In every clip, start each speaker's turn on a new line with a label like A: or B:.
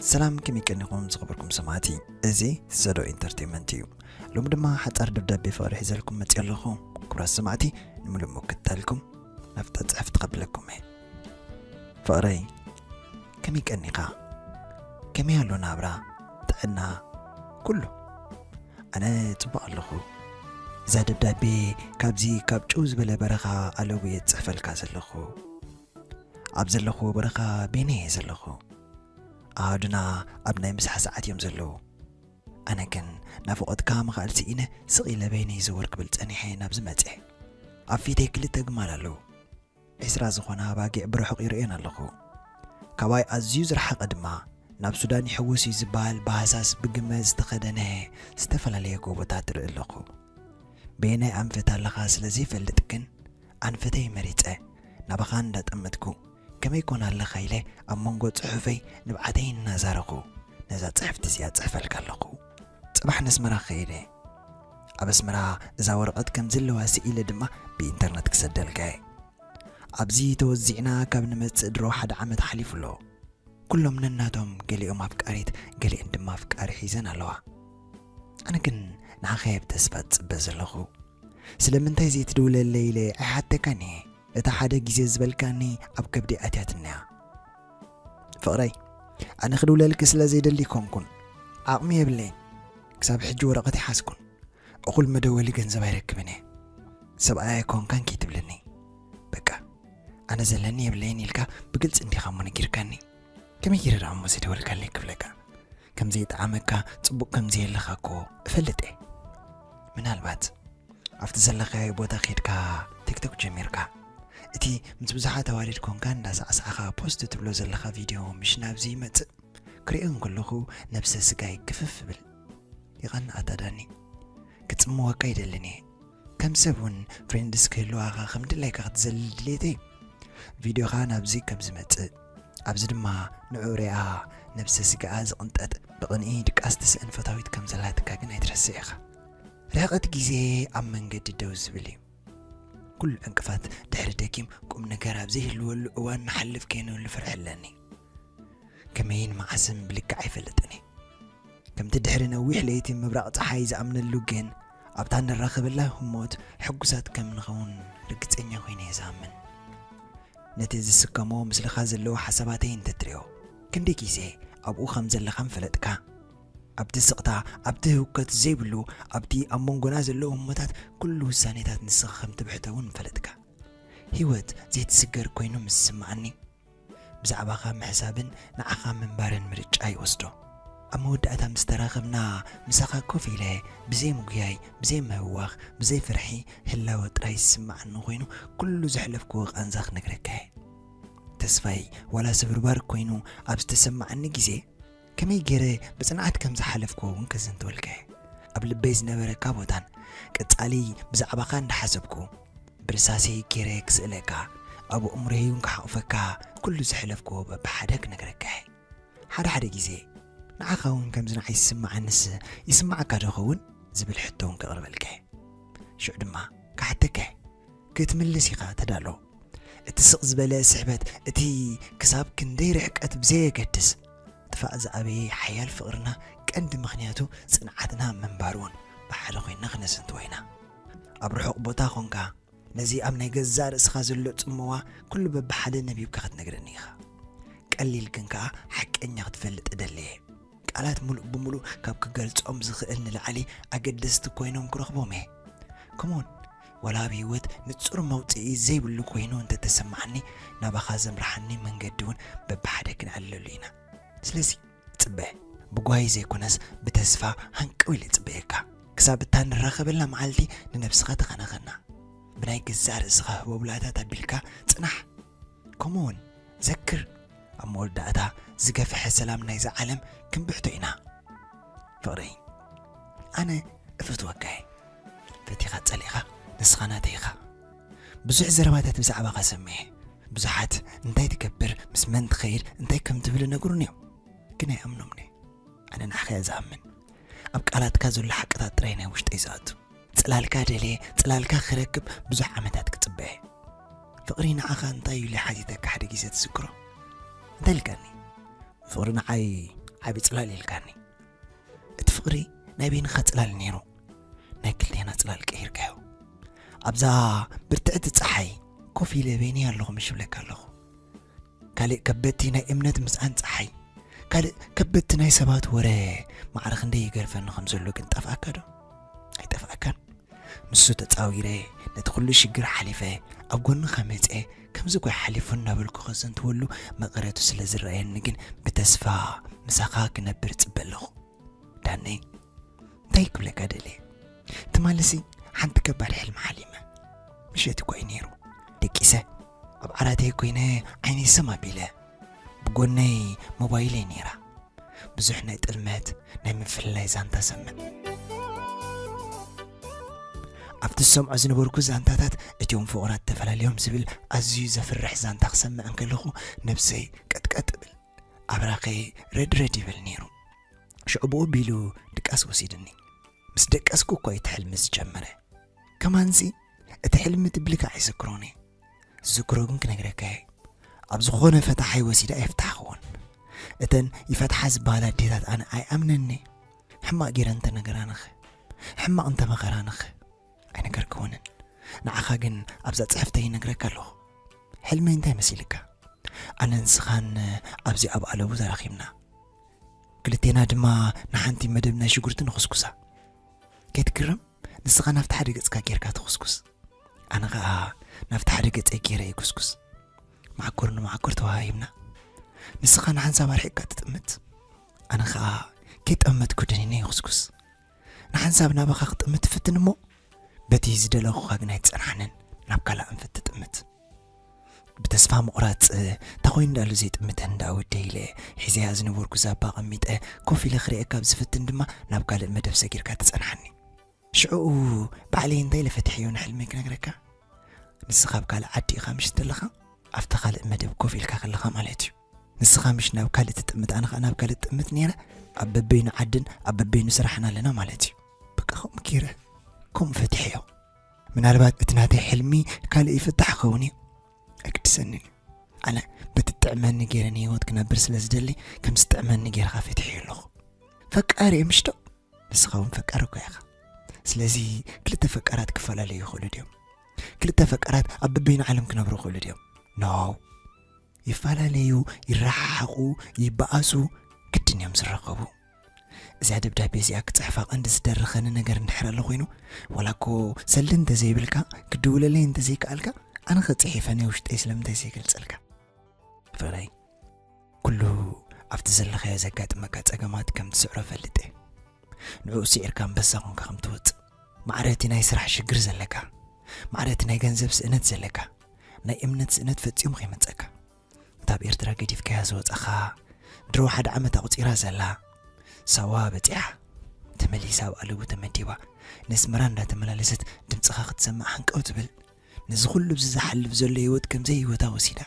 A: ሰላም ከም ይቀኒኹም ዝኸበርኩም ሰማዕቲ እዚ ሰዶ ኢንተርቴንመንት እዩ ሎሚ ድማ ሓፃር ደብዳቤ ፍቕሪ ሒዘልኩም መፅእ ኣለኹ ኩራት ሰማዕቲ ንምሉእ ምክታልኩም ናፍታ ፅሕፍ ትኸብለኩም እየ ፍቕረይ ከመይ ቀኒኻ ከመይ ኣሎ ናብራ ጥዕና ኩሉ ኣነ ፅቡቕ ኣለኹ እዛ ደብዳቤ ካብዚ ካብ ጭው ዝበለ በረኻ ኣለውየ ዝፅሕፈልካ ዘለኹ ኣብ ዘለኽዎ በረኻ በይነይ እየ ዘለኹ። ኣሃዱና ኣብ ናይ ምሳሕ ሰዓት እዮም ዘለዉ። ኣነ ግን ናፍቖትካ ምኽኣል ስኢነ ስቕ ኢለ በይነይ ዘወር ክብል ጸኒሐ ናብዚ መጼ። ኣብ ፊተይ ክልተ ግማል ኣለዉ። ዕስራ ዝኾና ኣባጊዕ ብርሑቕ ይርእየን ኣለኹ። ካባይ ኣዝዩ ዝረሓቐ ድማ ናብ ሱዳን ይሕውስ እዩ ዝበሃል ብሃሳስ ብግመ ዝተኸደነ ዝተፈላለየ ጎቦታት እርኢ ኣለኹ። በየናይ ኣንፈት ኣለኻ ስለ ዘይፈልጥ ግን ኣንፈተይ መሪጸ ናባኻ እንዳጠመትኩ ከመይ ኮን ኣለኻ ኢለ ኣብ መንጎ ጽሑፈይ ንብዓተይ እናዛረኹ ነዛ ጽሕፍቲ እዚኣ ጽሕፈልካ ኣለኹ። ጽባሕ ነስመራ ክኸይድ እየ። ኣብ ኣስመራ እዛ ወረቐት ከምዝለዋ ስኢለ ድማ ብኢንተርነት ክሰደልካ እየ። ኣብዚ ተወዚዕና ካብ ንመጽእ ድሮ ሓደ ዓመት ሓሊፉ ኣሎ። ኩሎም ነናቶም ገሊኦም ኣፍቃሪት ገሊኤን ድማ ኣፍቃሪ ሒዘን ኣለዋ። ኣነ ግን ንዓኻየ ብተስፋ ዝጽበ ዘለኹ። ስለምንታይ ዘይትድውለለይ ኢለ ኣይሓተካን እየ እታ ሓደ ግዜ ዝበልካኒ ኣብ ከብደይ ኣትያትኒ እያ ፍቕረይ ኣነ ክድውለልኪ ስለ ዘይደሊ ኮንኩን ዓቕሚ የብለይን ክሳብ ሕጂ ወረቐት ይሓዝኩን እኹል መደወሊ ገንዘብ ኣይረክብን እየ ሰብኣይ ኣይኮንካን ከይትብልኒ በቃ ኣነ ዘለኒ የብለይን ኢልካ ብግልፂ እንዲኻ እሞ ነጊርካኒ ከመይ ጌረ ደኣ እሞ ዘይደወልካለይ ክብለካ ከም ዘይጠዓመካ ጽቡቕ ከም ዘየለኻ እኮ እፈልጥ እየ ምናልባት ኣብቲ ዘለኻዮ ቦታ ኼድካ ቲክቶክ ጀሚርካ እቲ ምስ ብዙሓት ኣዋልድ ኮንካ እንዳሳዕሳዕኻ ፖስት ትብሎ ዘለኻ ቪድዮ ምሽ ናብዚ ይመጽእ ክሪኦ እንከለኹ ነብሰ ስጋይ ክፍፍ ብል ይቐንኣታ ዳኒ ክጽምወካ ይደልን እየ ከም ሰብ ውን ፍሬንድስ ክህልዋኻ ከም ድላይካ ክትዘልል ድሌተይ ቪድዮኻ ናብዚ ከም ዝመጽእ ኣብዚ ድማ ንዑ ርኣ ነብሰ ስጋኣ ዝቕንጠጥ ብቕንኢ ድቃስ ትስእን ፈታዊት ከም ዘላትካ ግን ኣይትረስዕ ኢኻ ርሕቐት ግዜ ኣብ መንገዲ ደው ዝብል እዩ ኩሉ ዕንቅፋት ድሕሪ ደጊም ቁም ነገር ኣብ ዘይህልወሉ እዋን ንሓልፍ ከይንህሉ ፍርሒ ኣለኒ ከመይን መዓስን ብልክዕ ኣይፈልጥን እዩ ከምቲ ድሕሪ ነዊሕ ለይቲ ምብራቕ ፀሓይ ዝኣምነሉ ግን ኣብታ እንራኸበላ ህሞት ሕጉሳት ከም እንኸውን ርግጸኛ ኰይነ እየ ዝኣምን። ነቲ ዝስከሞ ምስልኻ ዘለዎ ሓሳባተይ እንተ ትርእዮ፣ ክንደይ ግዜ ኣብኡ ኸም ዘለኻ ምፈለጥካ። ኣብቲ ስቕታ፣ ኣብቲ ህውከት ዘይብሉ፣ ኣብቲ ኣብ መንጎና ዘሎ ህሞታት ኵሉ ውሳኔታት ንስኻ ከም ትብሕቶ እውን ምፈለጥካ። ህይወት ዘይትስገር ኰይኑ ምስ ዝስምዓኒ። ብዛዕባኻ ምሕሳብን ንዓኻ ምንባርን ምርጫ ይወስዶ። ኣብ መወዳእታ ምስ ተራኸብና፣ ምሳኻ ኮፍ ኢለ ብዘይ ምጉያይ፣ ብዘይ ምህዋኽ፣ ብዘይ ፍርሒ ህላወ ጥራይ ዝስምዓኒ ኮይኑ ኩሉ ዘሕለፍክዎ ቃንዛ ክነግረካ እየ። ተስፋይ ዋላ ስብርባር ኮይኑ ኣብ ዝተሰምዓኒ ግዜ፣ ከመይ ገይረ ብጽንዓት ከም ዝሓለፍክዎ እውን ክዝንትወልካ እየ። ኣብ ልበይ ዝነበረካ ቦታን ቀጻሊ ብዛዕባኻ እንዳሓሰብኩ ብርሳሰይ ገይረ ክስእለካ ኣብ ኣእምሮይ እውን ክሓቑፈካ ኩሉ ዘሕለፍክዎ በብሓደ ክነግረካ እየ። ሓደ ሓደ ግዜ ንዓኻ እውን ከምዚ ንዓይ ዝስምዓንስ ይስምዓካ ዶ ይኸውን ዝብል ሕቶ እውን ከቕርበልካ እየ። ሽዑ ድማ ክሓተካ እየ። ክትምልስ ኢኻ ተዳሎ። እቲ ስቕ ዝበለ ስሕበት እቲ ክሳብ ክንደይ ርሕቀት ብዘየገድስ፣ ጥፋእ ዝኣበየ ሓያል ፍቕርና ቀንዲ ምኽንያቱ ጽንዓትና ምንባሩን ብሓደ ኮይንና ክነዘንትዎ ኢና። ኣብ ርሑቕ ቦታ ኮንካ ነዚ ኣብ ናይ ገዛእ ርእስኻ ዘሎ ጽምዋ ኩሉ በብሓደ ነቢብካ ክትነግረኒ ኢኻ። ቀሊል ግን ከኣ ሓቀኛ ክትፈልጥ እደሊ እየ። ቃላት ምሉእ ብምሉእ ካብ ክገልጾም ዝኽእል ንላዕሊ ኣገደስቲ ኮይኖም ክረኽቦም እየ። Come on! ዋላ ኣብ ህይወት ንጹር መውጽኢ ዘይብሉ ኮይኑ እንተ ተሰማዓኒ ናባኻ ዘምርሓኒ መንገዲ ውን በብሓደ ክንዕለሉ ኢና ስለዚ ጽበ ብጓሂ ዘይኮነስ ብተስፋ ሃንቀው ኢለ ጽበየካ ክሳብ እታ ንራኸበላ መዓልቲ ንነብስኻ ተኸናኸና ብናይ ገዛእ ርእስኻ ህቦብላታት ኣቢልካ ጽናሕ ከምኡውን ዘክር ኣብ መወዳእታ ዝገፈሐ ሰላም ናይዛ ዓለም ክንብሕቶ ኢና ፍቕረይ ኣነ እፈትወካ እየ ፈቲኻ ጸሊእኻ ንስኻ ናተይ ኢኻ ብዙሕ ዘረባታት ብዛዕባኻ ሰሚዐ ብዙሓት እንታይ ትገብር ምስ መን ትኸይድ እንታይ ከም ትብል ነግሩን እዮም ግን ኣይኣምኖምኒ ኣነ ንዓኸ እያ ዝኣምን ኣብ ቃላትካ ዘሎ ሓቅታት ጥራይ ናይ ውሽጠይ ዝኣቱ ጽላልካ ደልየ ጽላልካ ክረክብ ብዙሕ ዓመታት ክጽበ እየ ፍቅሪ ንዓኻ እንታይ እዩ ኢለ ሓቲተካ ሓደ ግዜ ትዝክሮ እንታይ ኢልካኒ ፍቅሪ ንዓይ ዓቢ ጽላል ኢልካኒ እቲ ፍቅሪ ናይ በይንኻ ጽላል ነይሩ ናይ ክልቴና ጽላል ቀይርካዮ ኣብዛ ብርትዕቲ ፀሓይ ኮፍ ኢለ በይነይ ኣለኹ ምሽ ብለካ ኣለኹ ካልእ ከበድቲ ናይ እምነት ምስኣን ጸሓይ ካልእ ከበድቲ ናይ ሰባት ወረ ማዕረ ክንደይ ይገርፈኒ ከም ዘሎ ግን ጠፍኣካ ዶ ኣይጠፍኣካን ንሱ ተጻዊረ ነቲ ኩሉ ሽግር ሓሊፈ ኣብ ጎንኻ መጸ ከምዚ ጓይ ሓሊፉ እናበልኩ ከዘንትወሉ መቐረቱ ስለ ዝረኣየኒ ግን ብተስፋ ምሳኻ ክነብር ጽበ ኣለኹ ዳነይ እንታይ ክብለካ ደልየ ትማሊሲ ሓንቲ ከባድ ሕልሚ ሓሊመ ምሸት እኳ እዩ ነይሩ ደቂሰ ኣብ ዓራተይ ኮይነ ዓይነይ ሰም ኣቢለ ብጎነይ ሞባይለይ ነይራ ብዙሕ ናይ ጥልመት ናይ ምፍልላይ ዛንታ ሰምዕ ኣብቲ ዝሰምዖ ዝነበርኩ ዛንታታት እትዮም ፍቑራት ተፈላለዮም ዝብል ኣዝዩ ዘፍርሕ ዛንታ ክሰምዕ እንከለኹ ነብሰይ ቀጥቀጥ እብል ኣብራኸይ ረድረድ ይብል ነይሩ ሽዑ ብኡ ኣቢሉ ድቃስ ወሲድኒ ምስ ደቀስኩ እኮ እዩ እቲ ሕልሚ ዝጀመረ ከማንሲ እቲ ሕልሚ ትብልካ ኣይዝክሮን እየ ዝዝክሮ ግን ክነግረካ እየ ኣብ ዝኾነ ፈታሓይ ወሲዳ ኣይፍታሕኽዎን እተን ይፈትሓ ዝበሃላ ኣዴታት ኣነ ኣይኣምነኒ ሕማቕ ጌረ እንተነገራንኸ ሕማቕ እንተመኸራንኸ ኣይነገርክውንን ንዓኻ ግን ኣብዛ ፅሕፍተ ይነግረካ ኣለኹ ሕልመይ እንታይ መሲልካ ኣነ ንስኻን ኣብዚ ኣብ ኣለቡ ተራኺብና ክልቴና ድማ ንሓንቲ መደብ ናይ ሽጉርቲ ንኹስኩሳ። ከይትግረም ንስኻ ናብቲ ሓደ ገጽካ ጌርካ ትኹስኩስ፣ ኣነ ኸኣ ናብቲ ሓደ ገጸይ ጌረ ይኩስኩስ። መዓኮር ንመዓኮር ተወሃሂብና። ንስኻ ንሓንሳብ ኣርሒቕካ ትጥምት፣ ኣነ ኸኣ ከይጠመትኩ ደኒነ ይኹስኩስ። ንሓንሳብ ናባኻ ክጥምት ትፍትን እሞ በቲ ዝደለኹኻ ግን ኣይትጸንሓንን ናብ ካልእ ኣንፈት ትጥምት ብተስፋ ምቑራጽ እታ ኮይኑ ዳሉ ዘይጥምተን እንዳ ወደ ኢለ ሒዘያ ዝነበርኩ ዛባ ቐሚጠ ኮፍ ኢለ ክርእየካ ካብ ዝፍትን ድማ ናብ ካልእ መደብ ሰጊርካ ትጸንሓኒ ሽዑኡ ባዕለይ እንታይ ኢለ ፈትሐዮ ንሕልመይ ክነግረካ ንስኻ ኣብ ካልእ ዓዲ ኢኻ ምሽ ዘለኻ ኣብታ ካልእ መደብ ኮፍ ኢልካ ከለኻ ማለት እዩ ንስኻ ምሽ ናብ ካልእ ትጥምት ኣነ ከኣ ናብ ካልእ ትጥምት ኔረ ኣብ በበይኑ ዓድን ኣብ በበይኑ ስራሕን ኣለና ማለት እዩ በቃ ከምኡ ገይረ ከምኡ ፈትሐዮ ምናልባት እቲ ናተይ ሕልሚ ካልእ ይፍታሕ ኸውን እዩ ኣይግድሰንን እዩ ኣነ በቲ ጥዕመኒ ገይረ ንህይወት ክነብር ስለ ዝደሊ ከም ዝጥዕመኒ ገይርካ ፈትሐዮ ኣለኹ ፈቃሪ እየ ምሽዶ ንስኻ እውን ፈቃሪ እኳ ኢኻ ስለዚ ክልተ ፈቃራት ክፈላለዩ ይኽእሉ ድዮም ክልተ ፈቃራት ኣብ በበይኑ ዓለም ክነብሩ ይኽእሉ ድዮም ኖው ይፈላለዩ፣ ይረሓሓቑ፣ ይበኣሱ፣ ግድን እዮም ዝራኸቡ። እዚኣ ደብዳቤ እዚኣ ክጽሕፋ ቀንዲ ዝደረኸኒ ነገር እንድሕር ኣሎ ኮይኑ ዋላ እኮ ሰልዲ እንተዘይብልካ ክድውለለይ እንተዘይከኣልካ ኣነ ከጽሒፈ ናይ ውሽጠይ ስለምንታይ ዘይገልጸልካ ፍቕረይ ኩሉ ኣብቲ ዘለኻዮ ዘጋጥመካ ጸገማት ከም ትስዕሮ ፈልጥ እየ ንዕኡ ስዒርካ ኣንበሳ ኮንካ ከም ትወጽእ ማዕረቲ ናይ ስራሕ ሽግር ዘለካ ማዕረቲ ናይ ገንዘብ ስእነት ዘለካ ናይ እምነት ስእነት ፈጺሙ ከይመጸካ እንታ ኣብ ኤርትራ ገዲፍካያ ዝወጸኻ ድሮ ሓደ ዓመት ኣቑጺራ ዘላ ሳዋ በጺሓ ተመሊሳ ኣብ ኣለቡ ተመዲባ ነስመራ እንዳተመላለሰት ድምፅኻ ክትሰምዕ ሓንቀው ትብል ነዚ ኩሉ ብዚ ዝሓልፍ ዘሎ ህይወት ከምዘይ ህይወታ ወሲዳ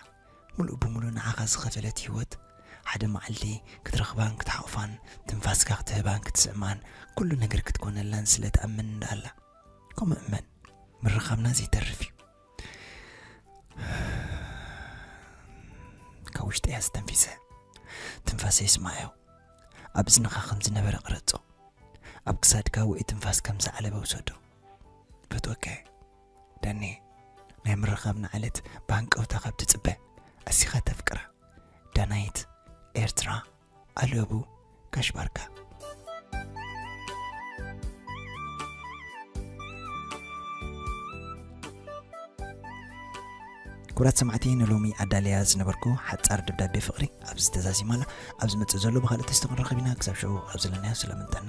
A: ሙሉእ ብምሉእ ንዓኻ ዝኸፈለት ህይወት ሓደ መዓልቲ ክትረኽባን ክትሓቑፋን ትንፋስካ ክትህባን ክትስዕማን ኩሉ ነገር ክትኮነላን ስለ ትኣምን እንዳኣላ ከምኡ እመን ምርኻብና ዘይተርፍ እዩ ካብ ውሽጢ እያ ዝተንፊሰ ትንፋሰ ይስማዮ ኣብ እዝንኻ ከም ዝነበረ ቅረጾ ኣብ ክሳድካ ውዒ ትንፋስ ከም ዝዓለበ ውሰዶ ፈትወካ ዳኒ ናይ ምርኻብና ዕለት ብሃንቀውታ ካብ ትጽበ ኣሲኻ ተፍቅራ ዳናይት ኤርትራ ኣለቡ ጋሽ ባርካ ኩራት ሰማዕቲ ንሎሚ ኣዳልያ ዝነበርኩ ሓፃር ደብዳቤ ፍቕሪ ኣብዚ ተዛዚማላ ኣብ ዝመፅእ ዘሎ ብካልእ ተስተክንረኸብ ኢና ክሳብ ሸዑ ኣብ ዘለናዮ ስለምንጠና